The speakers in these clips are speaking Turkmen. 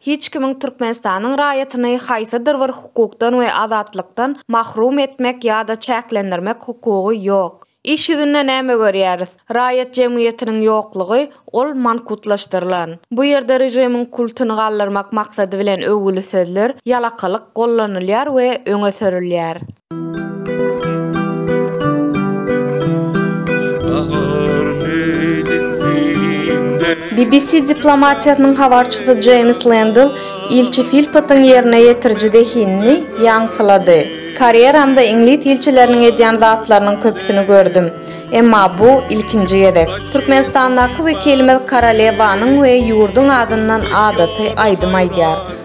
Hiç kimiň Türkmenistanyň raýatyny haýsydyr bir hukukdan we azatlykdan mahrum etmek ýa-da çäklendirmek hukugy ýok. Iş ýüzünde näme görýäris? Raýat jemgyýetiniň ýoklugy, ol mankutlaşdyrylan. Bu ýerde režimiň kultuny galdyrmak maksady bilen öwgüli sözler, ýalakalyk gollanylýar we öňe sürülýär. BBC diplomatiýasynyň habarçysy Jeýms Lendl ilçi Filpotyň ýerine ýetiriji zehinini ýaňsylady. Karýeramda iňlis ilçileriniň edýän zatlarynyň köpüsini gördüm. Emma bu, ilkinji gezek. Türkmenistandaky wekilimiz korolewanyň we ýurduň adyndan adaty aýdym aýdýar.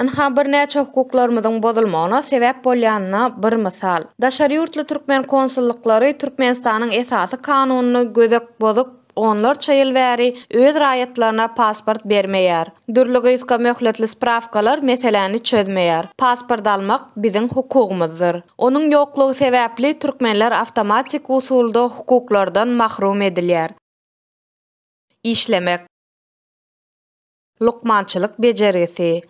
Ynha, birnäçe hukuklarymyzyň bozulmagyna sebäp bolýanyna bir mysal. Daşary ýurtly türkmen konsullyklary Türkmenistanyň Esasy Kanunyny gödek bozup, onlarça ýyl bäri öz raýatlaryna pasport bermeýär. Dürli gysga möhletli sprawkalar meseläni çözmeýär. Pasport almak biziň hukugymyzdyr. Onuň ýoklugy sebäpli türkmenler awtomatik usulda hukuklardan mahrum edilýär. Işlemek. Lukmançylyk bejergisi.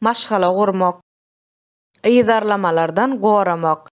Maşgala gurmak. Yzarlamalardan goramak.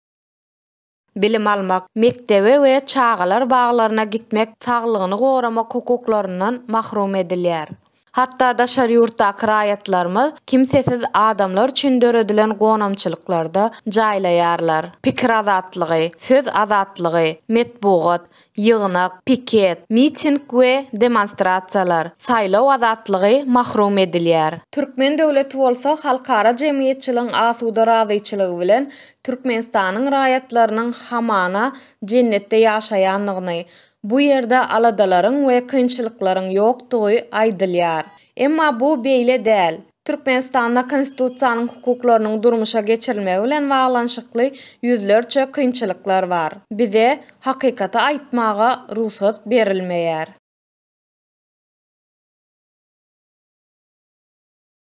Bilim almak. Mekdebe we çagalar baglaryna gitmek saglygyny goramak hukuklaryndan mahrum edilýär. Hatda daşary ýurtdaky raýatlarymyz kimsesiz adamlar üçin döredilen gonamçylyklarda jaýlaýarlar. Pikir azatlygy, söz azatlygy, metbugat, ýygnak, piket, miting we demonstrasiýalar, saýlaw azatlygy mahrum edilýär. Türkmen döwleti bolsa halkara jemgyýetçiligiň asuda razyçylygy bilen Türkmenistanyň raýatlarynyň hamana jennetde ýaşaýandygyny, bu ýerde aladalaryň we kynçylyklaryň ýokdugy aýdylýar. Emma bu beýle däl. Türkmenistanda Konstitusiýanyň hukuklarynyň durmuşa geçirilmegi bilen baglanyşykly ýüzlerçe kynçylyklar bar. Bize hakykaty aýtmaga rugsat berilmeýär.